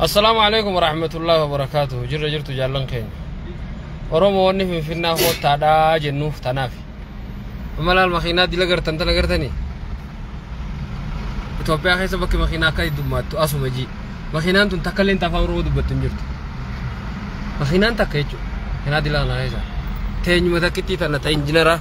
Assalaamu alaikum warahmatullahi wabarakatuh jirra jirtu jaallan keenya Oromoo wanni finfinnaa koottaadhaa jennuuf tanaaf amma laal makiinaa dila gartan tana gartanii Itoophiyaa keessa bakki makiinaa akka heddummaattu asuma jii makiinaan tun takka illee afaan Oromoo dubbattu hin jirtu makiinaan takka jechuudha makiinaa dila kana keessa teenyuma takkittii tana ta injinara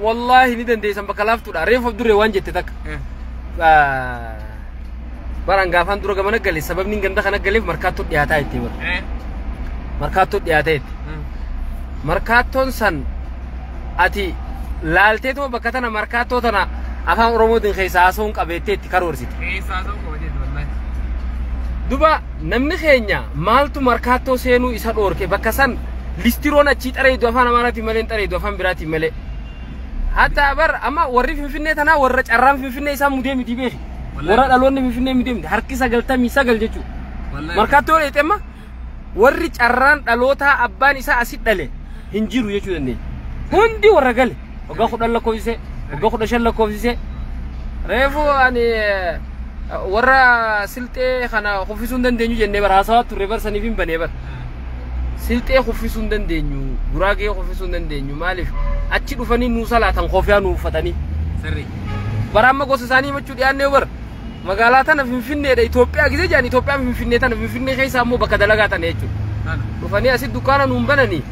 Wallaahi ni dandeessan bakka laaftuudha. Reefu abdurree waan jette takka. Baraan gaafaan dura gamana gale sababni ganda kana galeef markaattoo dhiyaataa jettee bara. Markaattoo dhiyaatee jette. Markaattoon san ati laalteetuma bakka tana markaattoo tana afaan Oromootiin keessaa haasawuun qabeettee itti karoorsite. Keessaa ta'uu qaba jedhu wallahi. Duba namni keenya maaltu markaattoo seenuu isa dhoorke bakka san listiroon achii xareedu afaan amaaraatiin malee hin xareedu afaan biraatiin malee. Hatta bar amma warri finfinnee tanaa warra carraan finfinnee isaan mudee miti beeki. Warra dhaloonni finfinnee mudee miti harki sagaltamii sagal jechuudha. Markaattoo dheexee amma warri carraan dhalootaa abbaan isaa asit dhale hin jiru jechuu dandeenya. Hundi warra gale waggaa kudhan lakkoofsisee waggaa kudha shan lakkoofsisee reefu ani eh, warra silxee kana kuffisuu hin dandeenyu jennee bara haasawaa turre bara saniif hin banee bara. Silxee kuffisuu hin dandeenyu, Guraagee kuffisuu hin dandeenyu. Maaliif achi dhufanii nuu salaatan kofiyaa nuu uffatanii. Sirrii. Bara amma gosa isaanii himachuu dhiyaannee bar magaalaa tana Finfinneedha Itoophiyaa gisee jedhan Itoophiyaa Finfinnee tana Finfinnee keessa ammoo bakka dalagaa tana jechuudha. Kana. Dhufanii asi dukkaana nuun bananii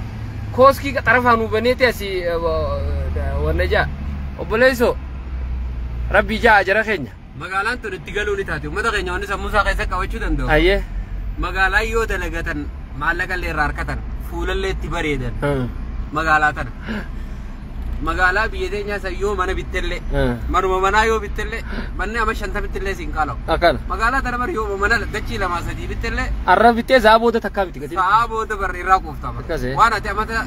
kooskii xarafaa nuu baneeti asi wanna ja'a. Obboleessoo rabbii ja'a jara keenya. Magaalaan tun itti galuu ni taati. Uummata keenya wanni sammuu isaa keessa qabachuu danda'u. Ayyee. Magaalaa yoo dalagatan maallaqa illee irraa harkatan fuulallee itti bareedan Hmm. magaalaa tana. Magaalaa biyya teenyaa san yoo mana bittellee Hmm. manuma manaa yoo bittellee manni amma shantamitti illee siin qaalawu. Akkana. Magaalaa tana bari yoo mana dachii lamaa sadii bittellee Arra bitee zaa booda takkaa miti gatiin. sa'aa booda barri irraa quuftama. Akkasi. Waan ati amata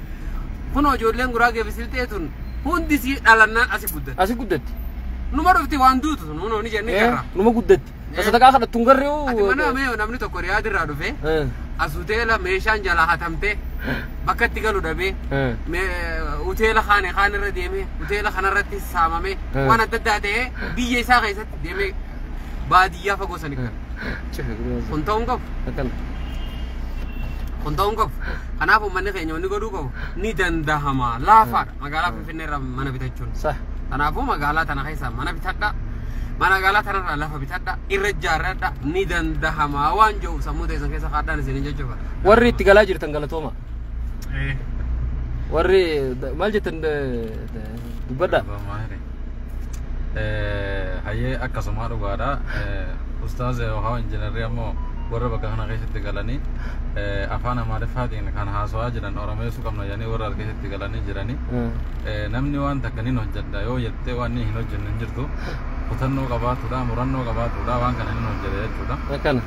Kunoo ijoolleen Guraagee fi Silxee tun hundi sii dhalannaan asi guddatti. Asi guddatti. Numa dhufti waan duutu sun hunoo ni jennee Eh, jarra. Numa guddatti. Eh. Isa takkaa kadhattu hin garree hoo? Ati mana mee namni tokko riyaad irraa dhufe Eh, as hoteela meeshaan jalaa hatamtee bakka itti galu dhabee eh. mee hoteela kaane kaan irra deemee hoteela kanarratti saamamee Eh. waan adda addaa ta'ee biyya isaa keessatti deemee baadiyyaa fagoo sani gara. kun ta'uun qabu kun ta'uun qabu kanaaf uummanni keenya wanni godhuu qabu ni dandahama laafaadha magaalaa finfinnee irraa mana bitachuun kanaafuu magaalaa tana keessaa mana bitadha mana magaalaa tanarraa lafa bitadha irra ijaarradha ni dandahama waan jiru sammuu teessan keessa kaadhaan isin jechuudha warri itti galaa jirtan galatooma warri maal jettan dubbadha Bamaare. Hayyee akkasumaa dhugaadha. Ustaaz Yoohaa Injiinarri ammoo warra bakka kana keessatti galanii afaan Amaariffaatiin kan haasawaa jiran Oromeessuu qabna jedhanii warra as keessatti galanii jiranii. Namni waan takka nin hojjedha yoo jettee waan hin hojjenne hin jirtu. Kutannoo qabaatudha, murannoo qabaatudha, waan kana nin hojjedha jechuudha. Akkana.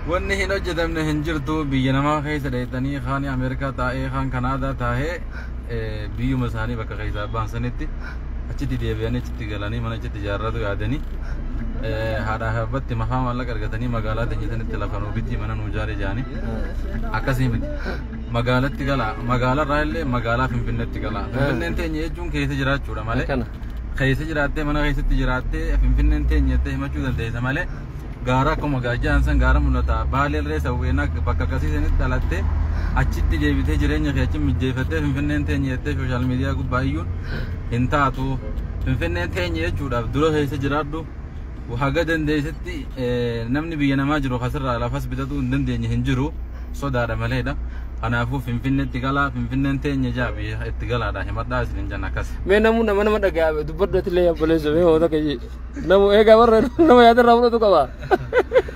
Wanni hin hojjetamne hin jirtu biyya namaa keessa dheettanii kaan Ameerikaa taa'ee kaan Kanaadaa taa'ee eh, biyyuma isaanii bakka keessaa ba'an sanitti achitti deebi'anii achitti galanii mana achitti ijaarratu yaadanii eh, haadhaa fi abbatti mafaa maallaqa argatanii magaalaa teenya sanitti lafa nuu bitii mana nuu ijaari jaanii akkasii miti magaalatti galaa magaalarraa illee magaalaa finfinneetti galaa finfinneen teenya jechuun keessa jiraachuudha malee Akkana. keessa jiraattee mana keessatti jiraattee finfinneen teenya jettee himachuu dandeessa malee gaara akkuma gaajjaan san gaara mul'ata baalee irree sawweenaa bakka akkasii sanitti dhalattee achitti deebitee jireenya kee achi mijjeeffattee finfinneen teenye jettee sooshaal miidiyaa gubbaa iyyuun hin taatu finfinneen teenye jechuudhaaf dura keessa jiraadhu haga dandeessitti eh, namni biyya namaa jiru kasirraa lafas bitatuu hin dandeenye hin jiru sodaadha maleedha kanaafuu finfinneetti galaa finfinneen teenye jaa biyya itti galaadha himadhaa isin hin jenna akkas mee namuu nama nama dhaga'a dubbadhu ati illee obboleessa mee hoota kee Namu eegaa warra nama yaadarraa fudhatu qaba.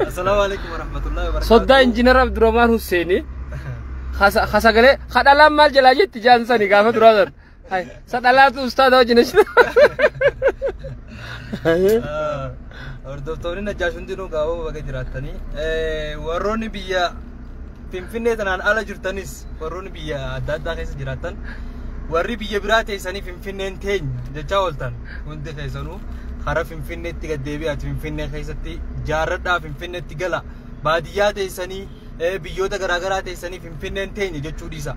Assalaamu alaikum warahmatullahi wabarakatuh. Soddaa injiinar Abdurrahmaan Husseeni. Hasa- Hasagalee hadhalaan maal jalaa jetti jaan sani gaafa duraa san. Hai, Sadhalaatu ustaada wajjin ishee. Hordoftoonni najjaash hundinuu gaa'oo baga jiraattanii warroonni biyya Finfinnee tanaan ala jirtanis warroonni biyya adda addaa keessa jiraattan warri biyya biraa teessanii Finfinneen teenya jechaa ooltan hundi keessanuu karaa Finfinneetti gad deebi'aati Finfinnee keessatti jaarradhaa Finfinneetti gala baadiyyaa teessanii eh, biyyoota garaagaraa teessanii Finfinneen teenya jechuu dhiisa.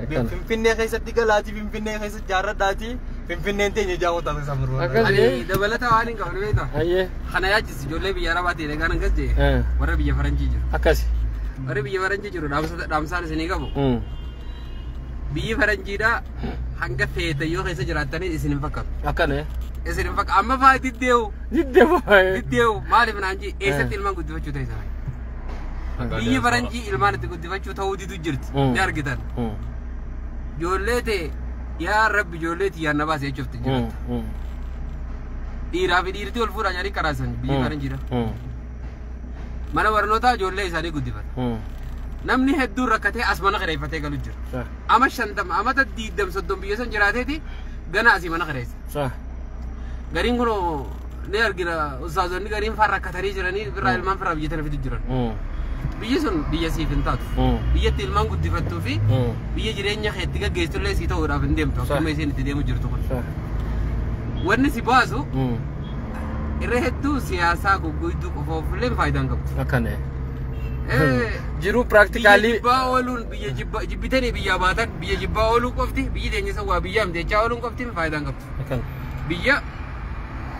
Akkana. Finfinnee keessatti galaatii Finfinnee keessa jaarradhaatii Finfinneen teenya jaa ooltan keessaa Akkas. Ani dabalata waan hin qabne beektaa? Ayyee. Kana yaachi ijoollee biyya arabaa ta'e dhagaan akkas jee Eh. warra biyya faranjii jiru Akkasi. warri biyya faranjii jiru dhaamsa- dhaamsaan isinii qabu Mm. biyyi faranjiidha hanga feetan yoo keessa jiraattanii isin hin fakkaatu Akkana. eh. isin hin fakkaatu amma faa diddeewu Didde baay'ee. diddeewu maaliif naan jee eessatti Eh. ilmaan guddifachuu ta'e sana biyyi faranjii ilmaan itti guddifachuu ta'uu didu jirti Mm. ni argitan Mm. ijoollee ta'e yaa rabbi ijoollee tiyyaan na baase jechuuf itti jiraata. Dhiiraa fi dhiirtii wal fuudhaa jedhanii qaraasan biyyi kana jira. Mana barnootaa ijoollee isaanii guddifata. Namni hedduun rakkatee as mana kireeffatee galu jira. Ama shantama amata diigdam soddom biyya san jiraateeti gana asii mana kireessa. Gariin kunoo ni argina ustaazonni gariin faan rakkatanii jiranii birraa ilmaan firaa biyya tana fidu jiran biyyi sun biyya siif hin taatu biyyatti ilmaan guddifattuu fi biyya jireenya kee itti gaggeessitullee sii ta'uudhaaf hin deemtu akkuma isheen itti deemu jirtu kun wanni si baasu irra hedduu siyaasaa gugguidduu qofoofillee faayidaan qabdu. akkana Eh, jiruu biyya piraaktikaallii jibbaa ooluun biyya jibbaa jibbitanii biyyaa baatan biyya jibbaa ooluu qofti biyyi teenya isa waa biyyaa miti jechaa ooluun qofti faayidaan qabdu. akkana biyya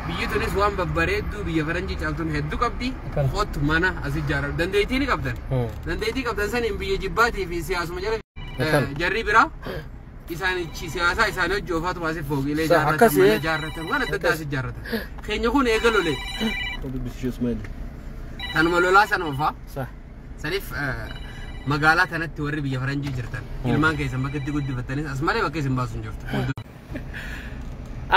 Biyyi tunis waan babbareedduu biyya faranjii caaltuun hedduu qabdi. Kan- Kottu mana as ijaarra. Dandeettii ni qabdan. Hmm. Dandeettii qabdan saniin biyya jibbaatii fi siyaasuma jala Kan- eh, jarri biraa isaanichi siyaasaa isaanii hojii ofaatu baasee fooqiilee Sa- ijaarratan, akkasi, mana eh? ijaarratan, waan adda addaa as ijaarratan. Keenya kun eega lolee. Tanuma lolaa sana ofaa. Sa. Saniif eh, magaalaa tanatti warri biyya faranjii jirtan ilmaan keessan bakka itti guddifattanis as malee bakka isin baasu hin jirtu.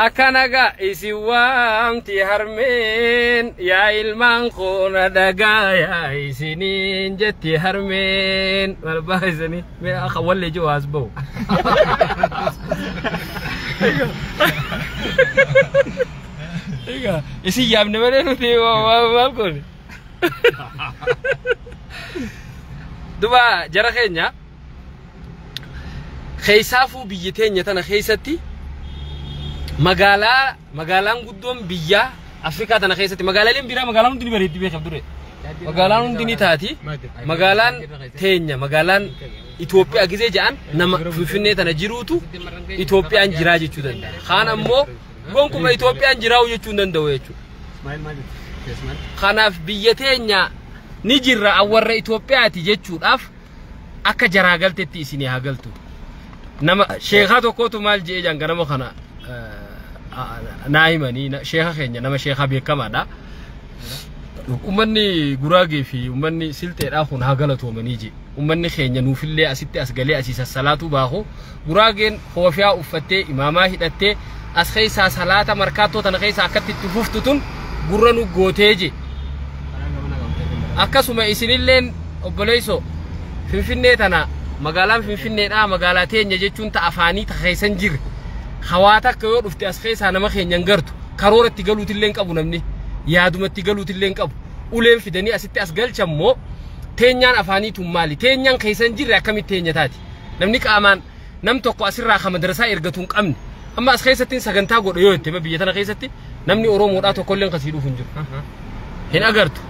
Akkana gaa isin waamti harmeen yaa ilmaan koo na dhagaayaa isiniin jetti harmeen maal baha isanii mee akka wallee jiru as ba'u. Egaa isin yaamne malee nuti waa- waa- maal goone. Duba jara keenya Keessaafuu biyya teenya tana keessatti magaalaa magaalaan guddoon biyyaa Afrikaa tana keessatti magaalaaleen biraa magaalaan hundi ni bareeddi beekaaf dure. Magaalaan hundi ni taati. Magaalaan teenya magaalaan Itoophiyaa gisee jedhan nama Finfinnee tana jiruutu Itoophiyaan jiraa jechuu danda'a. Kaan ammoo gonkuma Itoophiyaan jiraa'u jechuu hin danda'u jechuudha. Kanaaf biyya teenya ni jirra awwarra Itoophiyaati jechuudhaaf akka jaraa galtetti isinii haa galtu nama sheekaa tokkootu maal je'ee jaan ganama kana naa himanii sheeka keenya nama sheekaa beekamaadha ummanni guraagee fi ummanni silxeedhaa kun haa galatoomanii je ummanni keenya nuufillee asitti as galee asii sassalaatuu baaku Guraageen koofyaa uffattee, imaamaa hidhattee, as keessaa salaata markaattoo tana keessaa akkatti itti fuftu tun gurra nu gootee je. Akkasuma isinilleen obboleessoo Finfinnee tana magaalaan Finfinneedhaa magaalaa teenya jechuun ta afaanii ta keessan jirre hawaa takka yoo dhufte as keessaa nama keenya hin gartu karoora itti galuutillee hin qabu namni yaaduma itti galuutillee hin qabu uleen fidanii asitti as galchan moo teenyaan afaanii tun maali teenyaan keessan jirre akkamitti teenya taati. Namni qaamaan nam tokko asirraa ka madrasaa ergatu hin qabne. Amma as keessattiin sagantaa godha yoo jette biyya tana keessatti namni Oromoodhaa tokkolleen kasii dhufu hin jiru. Hin agartu.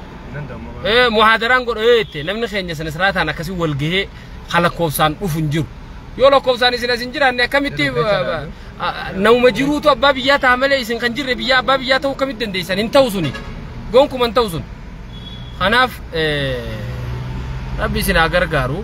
Eh, muhaadaraan godha yoo jette namni keenya sana siraataan akkasii wal gahee ka lakkoofsaan dhufu hin jiru. Yoo lakkoofsaan isin as hin jiraanne akkamitti eh, eh, nauma jiruutu abbaa biyyaa ta'a malee isin kan jirre biyyaa abbaa biyyaa ta'uu akkamitti dandeessan hin ta'u suni. Gonkuman ta'u sun. Kanaaf eh, rabbi isin haa gargaaru.